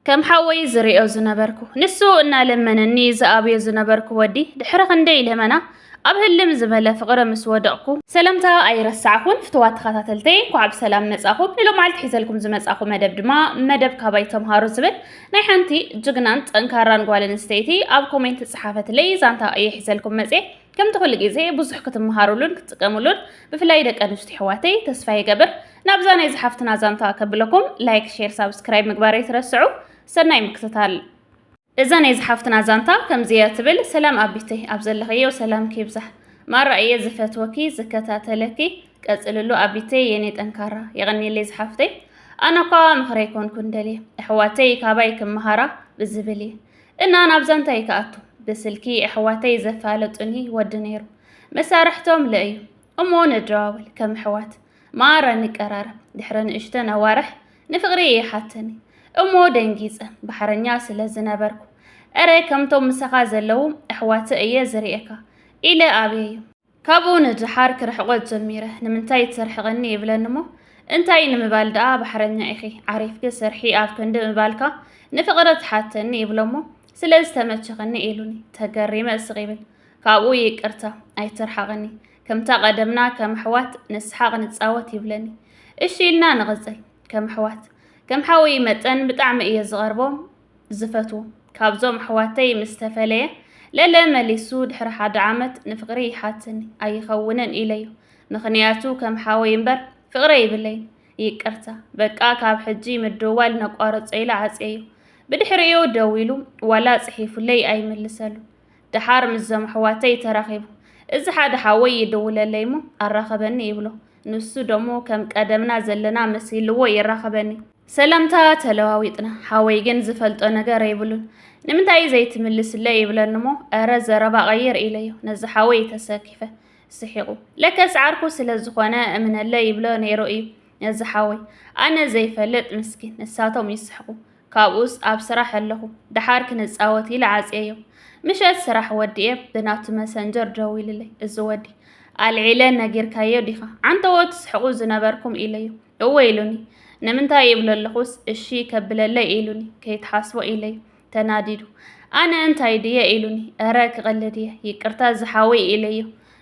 ከም ሓወይ ዝርእዮ ዝነበርኩ ንሱ እናለመነኒ ዝኣብዮ ዝነበርኩ ወዲ ድሕሪ ክንደይ ለመና ኣብ ህልም ዝበለ ፍቕሪ ምስ ወደቕኩ ሰለምታ ኣይረሳዕኹን ፍትዋት ተኸታተልተይ እንኳዕ ብሰላም መጻኹም ንሎማዓልቲ ሒዘልኩም ዝመጻኹ መደብ ድማ መደብ ካባይ ተምሃሩ ዝብል ናይ ሓንቲ ጅግናን ጠንካራን ጓል ኣንስተይቲ ኣብ ኮሜንት ዝጸሓፈትለይ ዛንታ እየ ሒዘልኩም መጽየ ከምቲ ኩሉ ግዜ ብዙሕ ክትመሃሩሉን ክትጥቀሙሉን ብፍላይ ደቂ ኣንስትዮ ኣሕዋተይ ተስፋ ይገብር ናብዛ ናይ ዝሓፍትና ዛንታ ከብለኩም ላይክ ሼር ሳብስክራይብ ምግባር ኣይትረስዑ ሰናይ ምክትታል እዛ ናይ ዝሓፍትና ዛንታ ከምዚያ ትብል ሰላም ኣቢተይ ኣብ ዘለኸዮ ሰላም ኪብዛሕ ማራ እየ ዝፈትወኪ ዝከታተለኪ ቀፅልሉ ኣቢተይ የኔ ጠንካራ የቐኒለይ ዝሓፍተይ ኣነ ኳ ምኽረይ ኮንኩን ደልየ ኣሕዋተይ ካባይ ክመሃራ ብዝብል እየ እና ናብዛ እንታይ ክኣቱ ብስልኪ ኣሕዋተይ ዘፋለጡኒ ወዲ ነይሩ መሳርሕቶም ለእዩ እሞ ነደዋወል ከም ኣሕዋት ማራ ንቀራረብ ድሕሪ ንእሽተን ኣዋርሕ ንፍቕሪ እየ ሓተኒ እሞ ደንጊፀ ባሕረኛ ስለ ዝነበርኩ እረ ከምቶም ምሳኻ ዘለዉ ኣሕዋተ እየ ዝርእየካ ኢለ ኣብየዮ ካብኡ ንድሓር ክርሕቆ ጀሚረ ንምንታይ ተርሕቐኒ ይብለኒ እሞ እንታይ ንምባል ደኣ ባሕረኛ ኢኺ ዓሪፍኪ ስርሒ ኣብ ክንዲ ምባልካ ንፍቕሪ ትሓተኒ ይብሎ እሞ ስለ ዝተመቸኸኒ ኢሉኒ ተገሪመ ስቕ ይብል ካብኡ ይቅርታ ኣይትርሓቐኒ ከምታ ቀደምና ከም ኣሕዋት ንስሓቕ ንጻወት ይብለኒ እሺ ኢልና ንቕጽል ከም ኣሕዋት ከም ሓወይ መጠን ብጣዕሚ እየ ዝቐርቦ ዝፈትው ካብዞም ኣሕዋተይ ምስ ተፈለየ ለለ መሊሱ ድሕሪ ሓደ ዓመት ንፍቕሪ ይሓትኒ ኣይኸውንን ኢለዩ ምኽንያቱ ከም ሓወይ እምበር ፍቕረ ይብለይ ይቅርታ በቃ ካብ ሕጂ ምድዋል ነቋርጾ ኢለ ዓጽየዩ ብድሕሪኡ ደዊሉ ዋላ ጽሒፉለይ ኣይምልሰሉ ደሓር ምስዞም ኣሕዋተይ ተራኺቡ እዚ ሓደ ሓወይ ይድውለለይ እሞ ኣራኸበኒ ይብሎ ንሱ ደሞ ከም ቀደምና ዘለና መሲልዎ ይራኸበኒ ሰላምታ ተለዋዊጥና ሓወይ ግን ዝፈልጦ ነገር ኣይብሉን ንምንታይ እዩ ዘይትምልስለይ ይብለንሞ እረ ዘረባ ቀይር ኢለዮ ነዚ ሓወይ ተሰኪፈ ስሒቑ ለከስ ዓርኩ ስለ ዝኾነ እምነለ ይብሎ ነይሩ እዩ ነዚ ሓወይ ኣነ ዘይፈልጥ ምስኪን ንሳቶም ይስሕቁ ካብኡስ ኣብ ስራሕ ኣለኹ ደሓር ክንፃወት ኢለ ዓፅየዮ ምሸት ስራሕ ወዲኤ ብናቱ መሰንጀር ደዊልለይ እዚ ወዲ ኣልዒለ ነጊርካዮ ዲኻ ዓንተዎ ትስሕቁ ዝነበርኩም ኢለዮ እወ ኢሉኒ። ንምንታይ እብሎ ኣለኹስ፣ እሺ ከብለለይ ኢሉኒ፣ ከይትሓስቦ ኢለዮ። ተናዲዱ። ኣነ እንታይ ድየ ኢሉኒ፣ እረ ክቕልድ እየ፣ ይቅርታ እዚ ሓወይ ኢለዮ።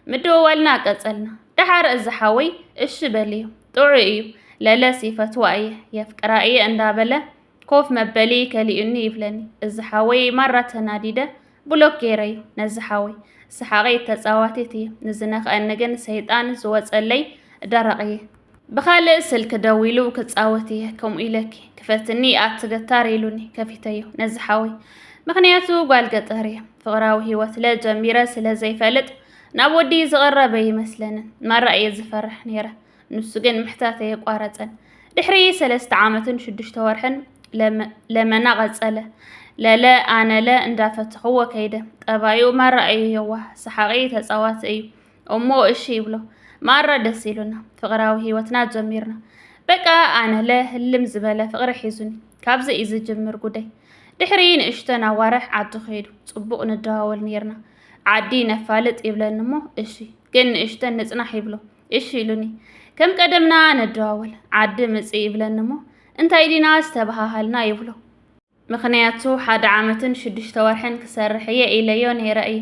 ምድውዋልና ቀጸልና። ደሓር እዚ ሓወይ እሺ በልዮ፣ ጥዑይ እዩ፣ ለለስ ይፈትዋ እየ፣ የፍቅራ እየ እንዳበለ ኮፍ መበሊ ከሊኡኒ ይብለኒ እዚ ሓወይ ማራ ተናዲደ ብሎክ ገይረዩ ነዚ ሓወይ ሰሓቀይ ተጻዋቲት እየ ንዝነክኣኒ ግን ሰይጣን ዝወጸለይ ደረቅ እየ ብኻልእ ስልኪ ደዊሉ ክጻወት እየ ከምኡ ኢለኪ ክፈትኒ ኣቲ ገታር ኢሉኒ ከፊተዮ ነዚ ሓወይ ምክንያቱ ጓል ገጠር እየ ፍቅራዊ ሂወት ለ ጀሚረ ስለ ዘይፈልጥ ናብ ወዲ ዝቀረበ ይመስለንን ማራ እየ ዝፈርሕ ነይረ ንሱ ግን ምሕታት ኣየቋረጸን። ድሕሪ ሰለስተ ዓመትን ሽዱሽተ ወርሕን ለመና ቀጸለ። ለለ ኣነለ እንዳፈተኽዎ ከይደ። ጠባዩ ማራ እዩ የዋህ፣ ሰሓቂ፣ ተጻዋቲ እዩ። እሞ እሺ ይብሎ ማራ ደስ ኢሉና ፍቅራዊ ህይወትና ጀሚርና። በቃ ኣነለ ህልም ዝበለ ፍቅሪ ሒዙኒ። ካብዚ እዩ ዝጅምር ጉዳይ። ድሕሪ ንእሽተን ኣዋርሕ ዓዲ ከይዱ። ጽቡቅ ንደዋወል ነይርና። ዓዲ ነፋልጥ ይብለኒ እሞ እሺ ግን ንእሽተን ንጽናሕ ይብሎ። እሺ ኢሉኒ ከም ቀደምና ነደዋወል ዓዲ ምፅ ይብለኒ እሞ እንታይ ዲና ዝተበሃሃልና ይብሎ ምኽንያቱ ሓደ ዓመትን ሽዱሽተ ወርሕን ክሰርሕ እየ ኢለዮ ነይረ እየ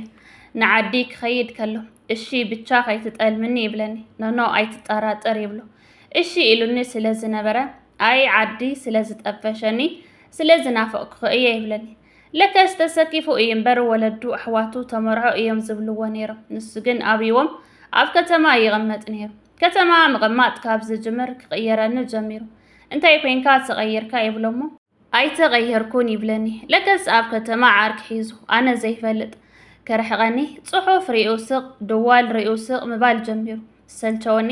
ንዓዲ ክኸይድ ከሎ እሺ ብቻ ከይትጠልምኒ ይብለኒ ኖኖ ኣይትጠራጠር ይብሎ እሺ ኢሉኒ ስለ ዝነበረ ኣይ ዓዲ ስለ ዝጠፈሸኒ ስለ ዝናፈቕኩኸ እየ ይብለኒ ለከስ ተሰኪፉ እዩ እምበር ወለዱ ኣሕዋቱ ተመርዖ እዮም ዝብልዎ ነይሮም። ንሱ ግን ኣብይዎም ኣብ ከተማ ይቕመጥ ነይሩ። ከተማ ምቕማጥ ካብ ዝጅምር ክቕየረኒ ጀሚሩ። እንታይ ኮይንካ ተቐይርካ ይብሎሞ። ኣይተቐየርኩን ይብለኒ። ለከስ ኣብ ከተማ ዓርኪ ሒዙ ኣነ ዘይፈልጥ ከርሕቐኒ፣ ጽሑፍ ሪኡ ስቕ፣ ደዋል ሪኡ ስቕ ምባል ጀሚሩ። ሰልቸወኒ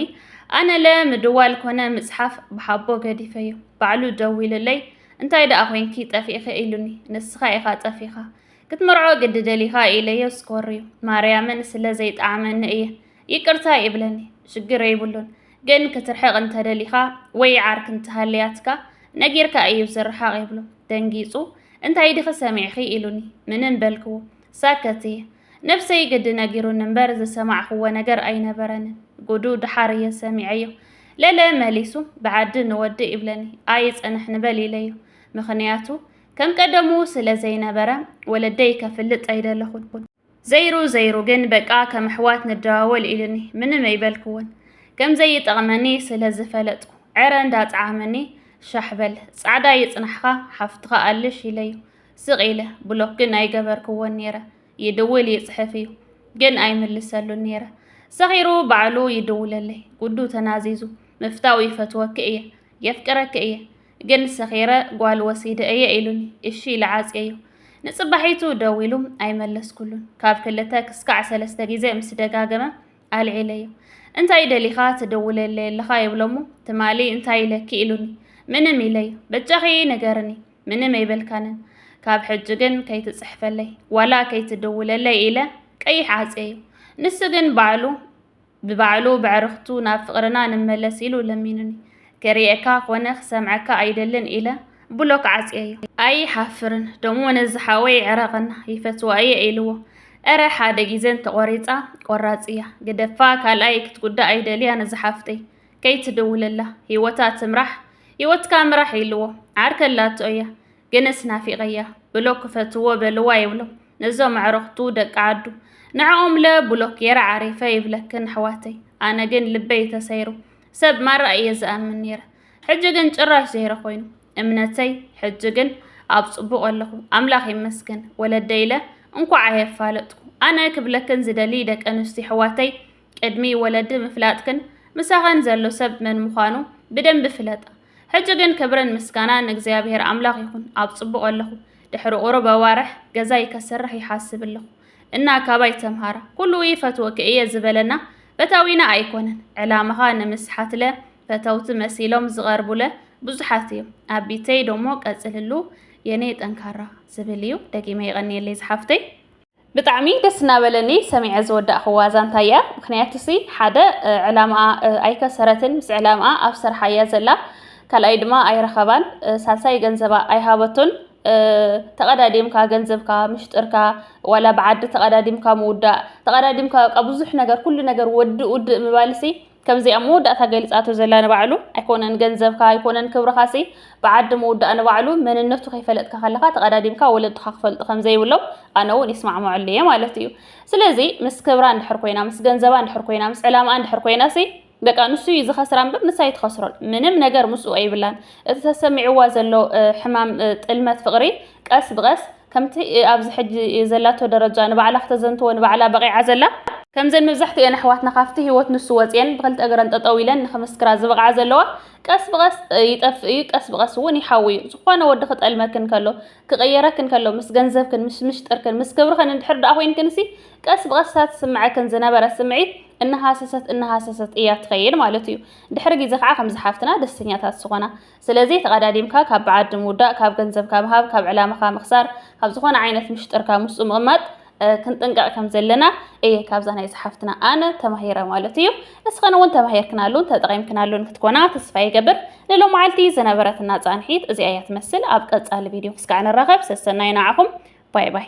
ኣነለ ምድዋል ኮነ ምጽሓፍ ብሓቦ ገዲፈዮ ባዕሉ ደዊሉለይ እንታይ ደኣ ኮንኪ ጠፊእኺ ኢሉኒ ንስኻ ኢኻ ጠፊኻ ክትመርዖ ግዲ ደሊኻ ኢለዮ ስኮርዩ ማርያምን ስለ ዘይጠዓመኒ እየ ይቅርታ ይብለኒ ሽግር የብሉን ግን ክትርሕቕ እንተደሊኻ ወይ ዓርክ እንተሃልያትካ ነጊርካ እዩ ዝርሓቕ ይብሎ ደንጊጹ እንታይ ዲኺ ሰሚዕኺ ኢሉኒ ምንም በልክዎ ሳከቲ ነብሰይ ግዲ ነጊሩኒ እምበር ዝሰማዕኹዎ ነገር ኣይነበረንን ጉዱ ድሓር እየ ሰሚዐዮ ለለ መሊሱ ብዓዲ ንወዲ ይብለኒ ኣይጽንሕ ንበል ኢለዮ ምኽንያቱ ከም ቀደሙ ስለ ዘይነበረ ወለደይ ከፍልጥ ኣይደለኹን ዘይሩ ዘይሩ ግን በቃ ከም ኣሕዋት ንደዋወል ኢልኒ ምንም ኣይበልክዎን ከም ዘይጠቕመኒ ስለ ዝፈለጥኩ ዕረ እንዳጽዓመኒ ሻሕበል ጻዕዳ ይጽናሕኻ ሓፍትኻ ኣልሽ ኢለዮ ስቕ ኢለ ብሎክ ግን ኣይገበርክዎን ነይረ። ይድውል ይጽሕፍ እዩ ግን ኣይምልሰሉን ነይረ። ሰኺሩ ባዕሉ ይድውለለይ ጉዱ ተናዚዙ ምፍታው ይፈትወኪ እየ የፍቅረኪ እየ ግን ሰኺረ ጓል ወሲደ እየ ኢሉኒ እሺ ኢለ ዓጽየዮ ንጽባሒቱ ደዊሉ ኣይመለስኩሉን ካብ ክልተ ክስካዕ ሰለስተ ግዜ ምስ ደጋገመ ኣልዒለዮ እንታይ ደሊኻ ትድውለለይ ኣለኻ ይብሎሞ ትማሊ እንታይ ኢለኪ ኢሉኒ ምንም ኢለዮ በጃኺ ንገርኒ ምንም ኣይበልካንን ካብ ሕጂ ግን ከይትጽሕፈለይ ዋላ ከይትድውለለይ ኢለ ቀይሕ ዓፀዩ ንሱ ግን ባዕሉ ብባዕሉ ብዕርኽቱ ናብ ፍቕርና ንመለስ ኢሉ ለሚኑኒ ክርእየካ ኮነ ክሰምዐካ ኣይደልን ኢለ ብሎክ ዓፅየዮ ኣይሓፍርን ደሞ ነዚ ሓወይ ዕረቐና ይፈትዋ እየ ኢልዎ እረ ሓደ ጊዘን ተቖሪፃ ቆራፅ እያ ግደፋ ካልኣይ ክትጉዳእ ኣይደልያን እዚ ሓፍተይ ከይትድውለላ ሂወታ ትምራሕ ሂወትካ ምራሕ ኢልዎ ዓርከ ኣላቶ እያ ግንስ ናፊቀያ ብሎክ ክፈትዎ በልዋ ይብሎም ነዞም ኣዕርክቱ ደቂ ዓዱ ንዕኦምለ ብሎክ ጌረ ዓሪፈ ይብለክን ኣሕዋተይ ኣነ ግን ልበይ ተሰይሩ ሰብ ማራ እየ ዝኣምን ነይረ ሕጂ ግን ጭራሽ ዘይረ ኮይኑ እምነተይ ሕጂ ግን ኣብ ጽቡቅ ኣለኹ ኣምላኽ ይመስገን ወለደይ ኢለ እንኳዕ ኣየፋለጥኩ ኣነ ክብለክን ዝደሊ ደቂ ኣንስትዮ ኣሕዋተይ ቅድሚ ወለዲ ምፍላጥክን ምሳኸን ዘሎ ሰብ መን ምዃኑ ብደንቢ ፍለጣ። ሕጂ ግን ክብርን ምስጋና ንእግዚኣብሔር ኣምላኽ ይኹን ኣብ ጽቡቕ ኣለኹ። ድሕሪ ቁሩብ ኣዋርሕ ገዛይ ከስርሕ ይሓስብ ኣለኹ እና ካባይ ተምሃራ። ኩሉ ይፈትወኪ እየ ዝበለና ፈታዊና ኣይኮነን። ዕላማኻ ንምስሓትለ ፈተውቲ መሲሎም ዝቐርቡለ ብዙሓት እዮም። ኣቢተይ ደሞ ቀጽልሉ የኔ ጠንካራ ዝብል እዩ። ደጊመ የቐንየለይ ዝሓፍተይ። ብጣዕሚ ደስ እናበለኒ ሰሚዐ ዝወዳእኽዋ ዛንታ እያ። ምክንያቱሲ ሓደ ዕላምኣ ኣይከሰረትን፣ ምስ ዕላምኣ ኣብ ስርሓ እያ ዘላ። ካልኣይ ድማ ኣይረኸባን፣ ሳልሳይ ገንዘባ ኣይሃበቶን። ተቐዳዲምካ ገንዘብካ ምሽጥርካ ዋላ ብዓዲ ተቐዳዲምካ ምውዳእ ተቐዳዲምካ በቃ ብዙሕ ነገር ኩሉ ነገር ወድእ ውድእ ምባልሲ ከምዚኣ መወዳእታ ገሊጻቶ ዘላ ንባዕሉ ኣይኮነን ገንዘብካ ኣይኮነን ክብርኻሲ ብዓዲ ምውዳእ ንባዕሉ መንነቱ ከይፈለጥካ ከለኻ ተቐዳዲምካ ወለድኻ ክፈልጡ ከም ዘይብሎም ኣነ እውን ይስማዕምዐሉ እየ ማለት እዩ ስለዚ ምስ ክብራ እንድሕር ኮይና ምስ ገንዘባ እንድሕር ኮይና ምስ ዕላማኣ እንድሕር ኮይናሲ በቃ ንሱ እዩ ዝኸስራ እምበር ንሳ ኣይትኸስሮን ምንም ነገር ምስኡ ኣይብላን እቲ ተሰሚዕዋ ዘሎ ሕማም ጥልመት ፍቕሪ ቀስ ብቐስ ከምቲ ኣብዚ ሕጂ ዘላቶ ደረጃ ንባዕላ ክተዘንትዎ ንባዕላ በቒዓ ዘላ፣ ከምዘን መብዛሕትኤን ኣሕዋትና ካብቲ ህይወት ንሱ ወጺኤን ብኽልተ እግረን ጠጠው ኢለን ንኽምስክራ ዝብቕዓ ዘለዋ፣ ቀስ ብቐስ ይጠፍእ እዩ፣ ቀስ ብቐስ እውን ይሓዊ እዩ። ዝኾነ ወዲ ክጠልመክን ከሎ፣ ክቕየረክን ከሎ፣ ምስ ገንዘብክን፣ ምስ ምሽጥርክን፣ ምስ ክብርኽን እንድሕር ደኣ ኮይንክንሲ፣ ቀስ ብቐስ እታ ትስምዐክን ዝነበረት ስምዒት እናሃሰሰት እናሃሰሰት እያ ትኸይድ ማለት እዩ። ድሕሪ ግዜ ከዓ ከምዚ ሓፍትና ደስተኛታት ዝኾና፣ ስለዚ ተቐዳዲምካ ካብ ብዓዲ ምውዳእ፣ ካብ ገንዘብካ ምሃብ፣ ካብ ዕላማኻ ምኽሳር፣ ካብ ዝኾነ ዓይነት ምሽጥርካ ምስኡ ምቕማጥ ክንጥንቀቕ ከም ዘለና እየ ካብዛ ናይ ዝሓፍትና ኣነ ተማሂረ ማለት እዩ። ንስኸን እውን ተማሂርክናሉን ተጠቒምክናሉን ክትኮና ተስፋ ይገብር። ንሎማዓልቲ ዝነበረትና ጻንሒት እዚኣ እያ ትመስል። ኣብ ቀጻሊ ቪድዮ ክስካዕ ንራኸብ። ሰሰናዩ ንዓኹም። ባይ ባይ።